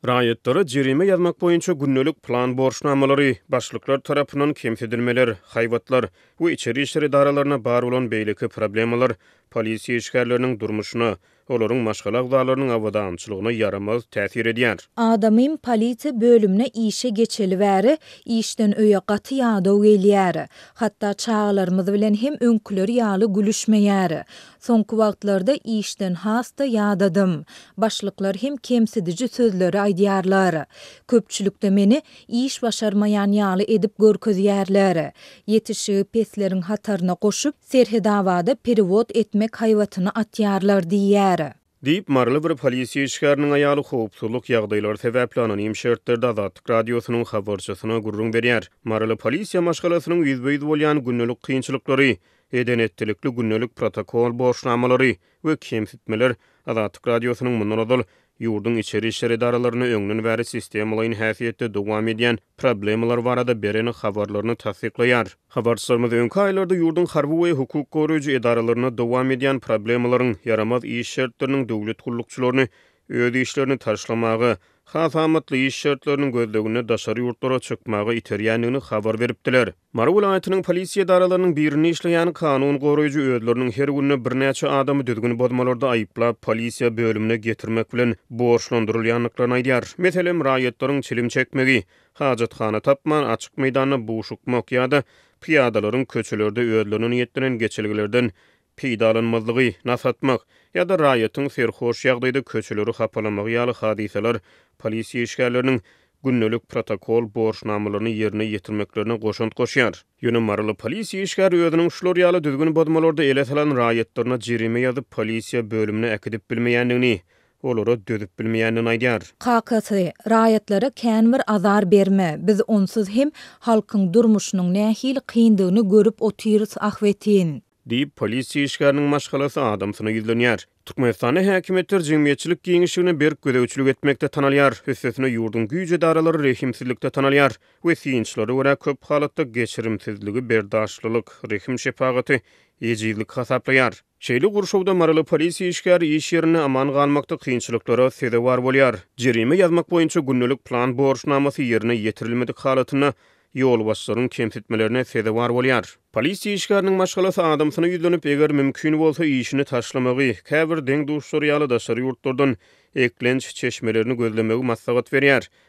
Raýatlara jerime ýazmak boýunça gündelik plan borçnamalary, başlyklar tarapyndan kemsidilmeler, haýbatlar we içeri işler edaralaryna bar bolan beýleki problemalar polisiýa işgärleriniň durmuşyna, olaryň maşgala agzalarynyň abadançylygyna ýaramaz täsir edýär. Adamym polisiýa bölümine işe geçeli bäri, işden öýe gaty ýadaw gelýär. Hatda çagalarymyz bilen hem öňküleri ýaly gülüşmeýär. Soňky wagtlarda işden has-da ýadadym. Başlyklar hem kemsidiji sözleri aýdýarlar. Köpçülikde meni iş başarmaýan ýaly edip görkezýärler. Ýetişigi pesleriň hataryna goşup, Serhedabada perewod etmek haýbatyny atýarlar diýýär. Diýip, maryly bir polisiýa işgäriniň aýaly howpsuzlyk ýagdaýlary sebäpli anonim şertlerde Azatlyk Radiosynyň habarçysyna gürrüň berýär. Maryly polisiýa maşgalasynyň ýüzbe-ýüz bolýan gündelik kynçylyklary, eden-etdilikli gündelik protokol borçnamalary we kemsitmeler Azatlyk Radiosynyň mundan ozal ýurduň içeri işler edaralarynda öňden bäri sistemalaýyn häsiýetde dowam edýän problemalar barada beren habarlaryny tassyklaýar. Habarçylarymyz öňki aýlarda ýurduň harby we hukuk goraýjy edaralarynda dowam edýän problemalaryň, ýaramaz iş şertleriniň döwlet gullukçylaryny öz işlerini taşlamaga, has amatly iş şertleriniň gözleginde daşary ýurtlara çykmaga iterýändigini habar beripdiler. Mary welaýatynyň polisiýa edaralarynyň birinde işleýän kanun goraýjy özleriniň her günde birnäçe adamy düzgün bozmalarda aýyplap, polisiýa bölümine getirmek bilen borçlandyrylýandyklaryny aýdýar. Meselem, raýatlaryň çilim çekmegi, hajathana tapman, açyk meýdanda buşukmak ýa-da pyýadalaryň köçelerde özlerine niýetlenen geçelgelerden peýdalanmazlygy, nas atmak, ýa-da raýatyň serhoş ýagdaýda köçeleri hapalamagy ýaly hadysalar polisiýa işgärleriniň gündelik protokol borçnamalaryny ýerine ýetirmeklerine goşant goşýar. Ýöne maryly polisiýa işgäri özüniň şular ýaly düzgün bozmalarda ele salan raýatlaryna jerime ýazyp polisiýa bölümine äkidip bilmeýändigini, Olara dözüp bilmeýänini aýdýar. Kakasy, Raýatlara känbir azar berme, biz onsuz hem halkyň durmuşynyň nähili kyndygyny görüp otyrys ahbetin. Diýip, polisiýa işgäriniň maşgalasy adamsyna ýüzlenýär. Türkmenistanda häkimiýetler jemgyýetçilik giňişligine berk gözegçilik etmekde tanalýar, üstesine ýurduň güýç edaralary rehimsizlikde tanalýar we synçylara görä köp halatda geçirimsizligi berdaşlylyk, rehim-şepagaty ejizlik hasaplaýar. Şeýle gurşawda maryly polisiýa işgäri iş ýerinde aman galmakda kynçylyklara sezewar bolýar. Jerime ýazmak boýunça gündelik plan borçnamasy ýerine ýetirilmedik halatynda ýolbaşçylaryň kemsitmelerine sezewar bolýar. Polisiýa işgäriniň maşgalasy adamsyna ýüzlenip, eger mümkin bolsa, işini taşlamagy, käbir deň-duşlary ýaly daşary ýurtlardan eklenç çeşmelerini gözlemegi maslahat berýär.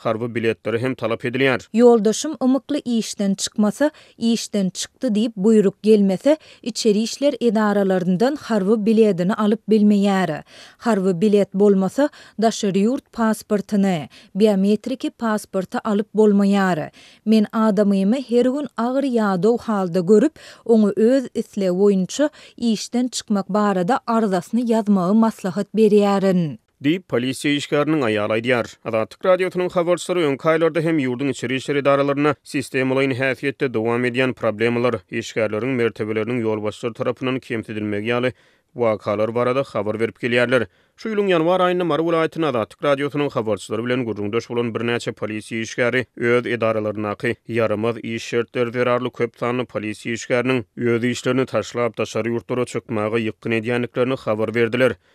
Harby biletleri hem talap edilýär. Ýoldaşym ymykly işden çykmasa, işden çykdy diýip buýruk gelmese, içeri işler edaralaryndan harby biledini alyp bilmeýär. Harby bilet bolmasa, daşary ýurt pasportyny, biometriki pasporty alyp bolmaýar. Men adamymy her gün agyr ýadaw halda görüp, oňa öz islegi boýunça işden çykmak barada arzasyny ýazmagy maslahat berýärin. diýip, polisiýa işgäriniň aýaly aýdýar. Azatlyk Radiosynyň habarçylary öňki aýlarda hem ýurduň içeri işler edaralarynda sistemalaýyn häsiýetde dowam edýän problemalar, işgärleriň mertebeleriniň ýolbaşçylar tarapyndan kemsidilmegi ýaly wakalar barada habar berip gelýärler. Şu ýylyň ýanwar aýynda Mary welaýatynda Azatlyk Radiosynyň habarçylary bilen gürrüňdeş bolan birnäçe polisiýa işgäri öz edaralaryndaky ýaramaz iş şertleri zerarly köp sanly polisiýa işgäriniň öz işlerini taşlap daşary ýurtlara çykmaga ýykgyn edýändiklerini habar berdiler.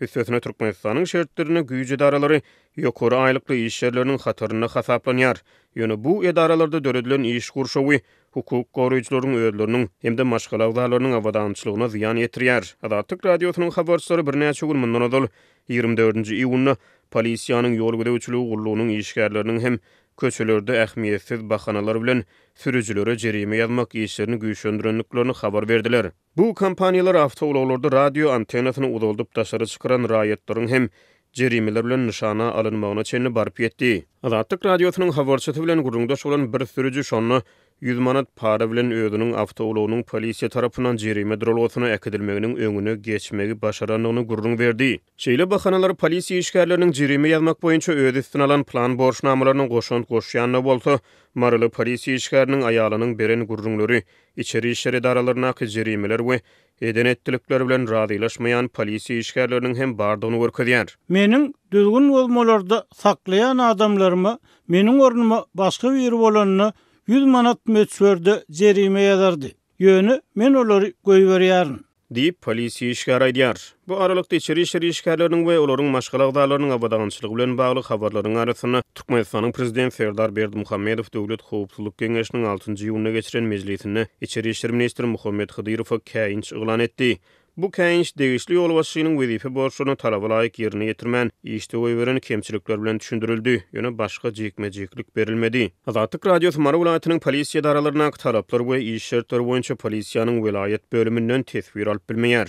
Üstesine Türkmenistanyň şertlerinde güýç edaralary ýokary aýlykly iş ýerleriniň hatarynda hasaplanýar. Ýöne bu edaralarda döredilen iş gurşawy hukuk goraýjylaryň özleriniň hem-de maşgala agzalarynyň abadançylygyna zyýan ýetirýär. Azatlyk Radiosynyň habarçylary birnäçe gün mundan ozal, ýigrimi dördünji iýunda polisiýanyň ýol gözegçiligi gullugynyň işgärleriniň hem köçelerde ähmiýetsiz bahanalar bilen sürüjilere jerime ýazmak işlerini güýçlendirendiklerini habar berdiler. Bu kompaniýalar awtoulaglarda radio antennasyny uzaldyp daşary çykaran raýatlaryň hem jerimeler bilen nyşana alynmagyna çenli baryp ýetdi. Azatlyk Radiosynyň habarçysy bilen gürrüňdeş bolan bir sürüji şonda ýüz manat para bilen özüniň awtoulagynyň polisiýa tarapyndan jerime duralgasyna äkidilmeginiň öňüne geçmegi başarandygyny gürrüň berdi. Şeýle bahanalar polisiýa işgärleriniň jerime ýazmak boýunça öz üstüne alan plan borçnamalaryna goşant goşýanyna bolsa, maryly polisiýa işgäriniň aýalynyň beren gürrüňleri içeri işler edaralaryndaky jerimeler we eden-etdilikleri bilen razylaşmaýan polisiýa işgärleriniň hem bardygyny görkezýär. Meniň düzgün bozmalarda saklaýan adamlaryma meniň ornuma başga biri bolanda ýüz manat möçberde jerime ýazardy. Ýöne men olary goýberýärin. diýip, polisiýa işgäri aýdýar. Bu aralykda, içeri işler işgärleriniň we olaryň maşgala agzalarynyň abadançylygy bilen bagly habarlaryň arasynda, Türkmenistanyň Prezidenti Serdar Berdimuhamedow Döwlet howpsuzlyk geňeşiniň altynjy iýunda geçiren mejlisinde içeri işler ministri Muhammet Hydyrowa käýinç yglan etdi. Bu käýinç degişli ýolbaşçynyň wezipe borçlaryny talaba laýyk ýerine ýetirmän, işde goýberen kemçilikler bilen düşündirildi, ýöne başga jikme-jiklik berilmedi. Azatlyk Radiosy Mary welaýatynyň polisiýa edaralaryndaky talaplar we iş şertleri boýunça polisiýanyň welaýat bölüminden teswir alyp bilmeýär.